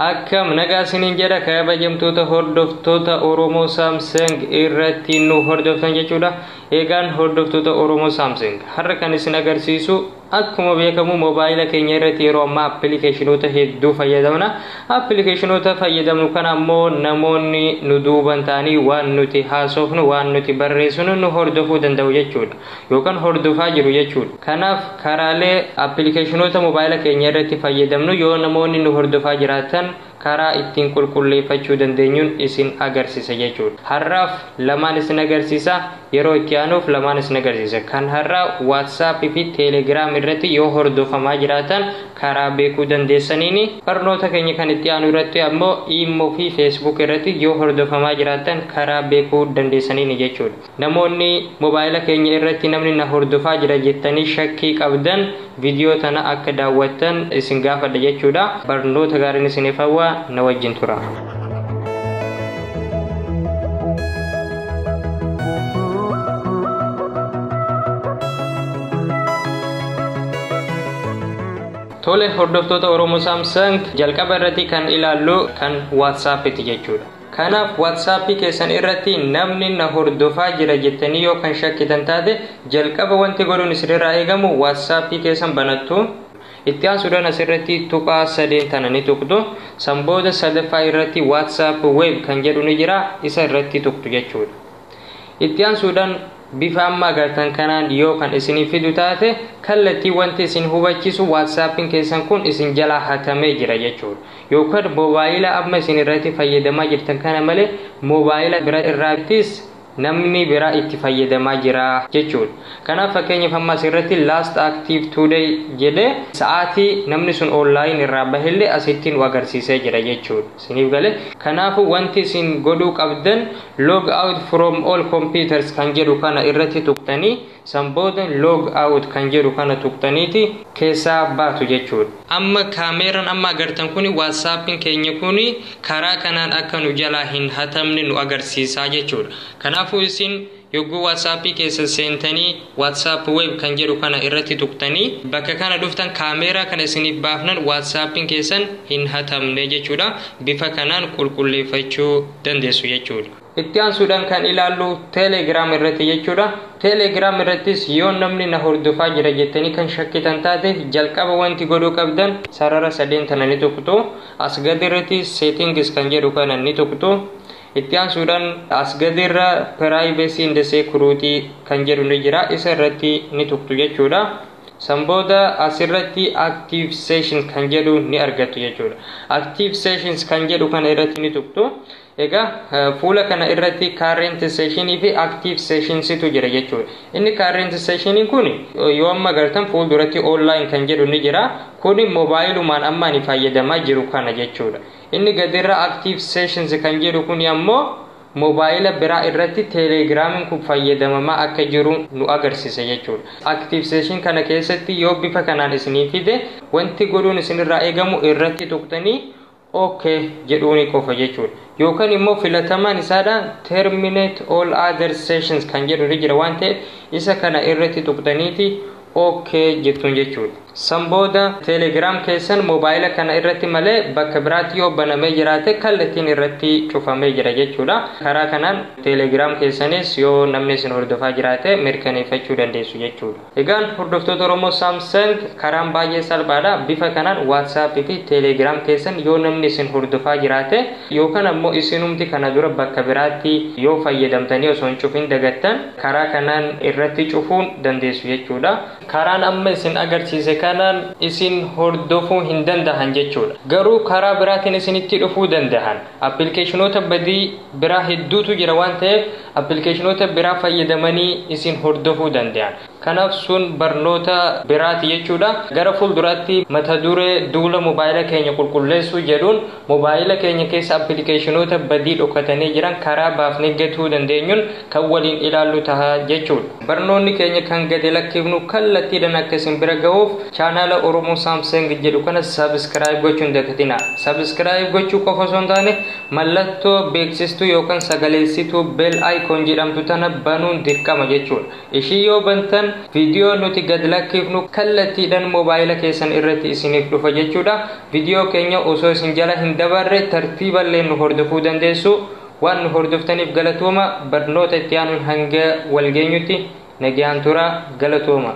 akkam nagaa isiniin jedha kabajamtoota hordoftoota oromoo saamsang irratti nu hordoftan jechuudha eegaan hordoftoota oromoo saamsang har'a kan isin agarsiisu akkuma beekamu moobaayila keenya irratti yeroo ammaa appilikeeshinoota hedduu fayyadamna appilikeeshinoota fayyadamnu kana ammoo namoonni nu duuban ta'anii waan nuti haasofnu waan nuti barreessinu nu hordofuu danda'u jechuudha yookan hordofaa jiru jechuudha. Kanaaf karaalee appilikeeshinoota mobaayila keenya irratti fayyadamnu yoo namoonni nu hordofaa jiraatan karaa ittiin qulqulleeffachuu dandeenyun isin agarsisa jechuudha. Har'aaf lamaan isin agarsiisa yeroo itti aanuuf lamaan isin agarsiisa. Kan har'aa WhatsApp fi Telegram irratti yoo hordofamaa jiraatan karaa beekuu dandeessaniini. Barnoota keenya kan itti aanu irratti ammoo Imo fi Facebook irratti yoo hordofamaa jiraatan karaa beekuu dandeessaniini jechuudha. Namoonni mobaayila keenya irratti namni na hordofaa jira jettanii shakkii qabdan vidiyoo tana akka daawwattan isin gaafadha jechuudha. Barnoota gaariin isiniif hawwa na wajjin tura. Tole hordoftoota Oromo Samsung jalqaba irratti kan ilaallu kan WhatsApp ti jechuudha. Kanaaf WhatsApp keessan irratti namni na hordofaa jira jettanii yoo kan shakkitan taate jalqaba wanti godhuun isinirraa eegamu WhatsApp keessan banattu. Itti aansuudhaan asirratti tuqaa sadeen tana ni tuqxu. San booda sadaffaa irratti WhatsApp Web kan jedhu ni jira isa irratti tuqxu jechuudha. itti aansuudhaan bifa amma agartan kanaan yoo kan isiniif fidu taate kallattii wanti isin hubachiisu waatsaappiin keessan kun isin jalaa hatamee jira jechuudha yookaan moobaayila amma isin irratti fayyadamaa jirtan kana malee moobaayila bira irraattis namni biraa itti fayyadamaa jira jechuudha kanaaf fakkeenyaaf amma asirratti last active today jedhee sa'aatii namni sun online irraa bahillee asittiin nu agarsiisee jira jechuudha. Isiniif gale? Kanaafuu wanti isin godhuu qabdan log out from all computers kan jedhu kana irratti tuqxanii san booda log out kan jedhu kana tuqxaniiti keessaa baatu jechuudha. Amma kaameeran amma agartan kuni whatsappin keenya kuni karaa kanaan akka nu jalaa hin hatamne nu agarsiisaa jechuudha. Kanaafuu isin. Yogguu WhatsApp keessan seentanii WhatsApp web kan jedhu kana irratti tuqtanii bakka kana dhuftan kaameeraa kana isiniif baafnan WhatsApp'n keessan hin hatamne jechuudha. Bifa kanaan qulqulleeffachuu dandeessu jechuudha. Itti aansuudhaan kan ilaallu Telegram irratti jechuudha. Telegram irrattis yoo namni na hordofaa jira jettanii kan shakkitan taate jalqaba wanti godhuu qabdan sarara sadeen tana ni tuqxu. As gadi irratti settings kan jedhu kana ni tuqxu. Itti aansuudhaan as gadiirra Privacy in the Security kan jedhu ni jira. Isa irratti ni tuqxu jechuudha. San booda asirratti Active Session kan jedhu ni argattu jechuudha. Active Sessions kan jedhu kana irratti ni tuqxu. Egaa fuula kana irratti Current Session fi Active Sessions tu jira jechuudha. Inni Current Session kun yoo amma gartan fuulduratti Online kan jedhu ni jira. Kun moobaayilumaan amma ani fayyadamaa jiru kana jechuudha. Inni gadirra active sessions kan jedhu kuni ammoo mobaayila biraa irratti telegramin kun fayyadamamaa akka jiru nu agarsisa jechuudha. Active session kana keessatti yoo bifa kanaan isinii fide wanti godhuun isinirraa eegamu irratti tuqxanii ok jedhuuni qofa jechuudha. Yookan immoo filatamaan isaadha terminate all other sessions kan jedhu irra jira waan ta'eef isa kana irratti tuqxaniiti OK jettuun jechuudha. San booda Telegram keessan mobaayila kana irratti malee bakka biraatti yoo banamee jiraate kallattiin irratti cufamee jira jechuudha. Karaa kanaan Telegram keessanis yoo namni isin hordofaa jiraate mirkaneeffachuu dandeessu jechuudha. Egaan hordoftoota Oromoo Samsung karaan baay'ee salphaadha. Bifa kanaan WhatsApp fi Telegram keessan yoo namni isin hordofaa jiraate yookaan ammoo isinumti kana dura bakka biraatti yoo fayyadamtanii osoo hin cufin dagattan Karaa kanaan irratti cufuu dandeessu jechuudha. Karaan amma isin agarsiise kanaan isin hordofuu hin dandahan jechuudha. Garuu karaa biraatiin isinitti dhufuu dandahan. Appilikeeshinoota badii biraa hedduutu jira waan ta'eef appilikeeshinoota biraa fayyadamanii isin hordofuu dandahan. Kanaaf sun barnoota biraati jechuudha. Gara fuulduraatti mata duree duula mobaayila keenya qulqulleessuu jedhuun Mobaayila keenya keessa appilikeeshinoota badii dhokatanii jiran karaa baafnee gatuu dandeenyuun kan waliin ilaallu taha jechuudha. Barnoonni keenya kan gadi lakkifnu kallattiidhan akka isin bira gahuuf chaanaala Oromo Samsung jedhu kana subscribe gochuu hin dagatinaa. Subscribe gochuu qofa osoo hin taane mallattoo beeksistuu yookan sagaleessituu bell icon jedhamtu tana banuun dirqama jechuudha. Ishii yoo bantan video nuti gad lakkifnu kallattiidhan mobaayila keessan irratti isiniif dhufa jechuudha. Video keenya osoo isin jala hin dabarre tartiiballeen nu hordofuu dandeessu. Waan nu hordoftaniif galatooma. Barnoota itti aanuun hanga wal geenyutti nagayaan tura. Galatooma.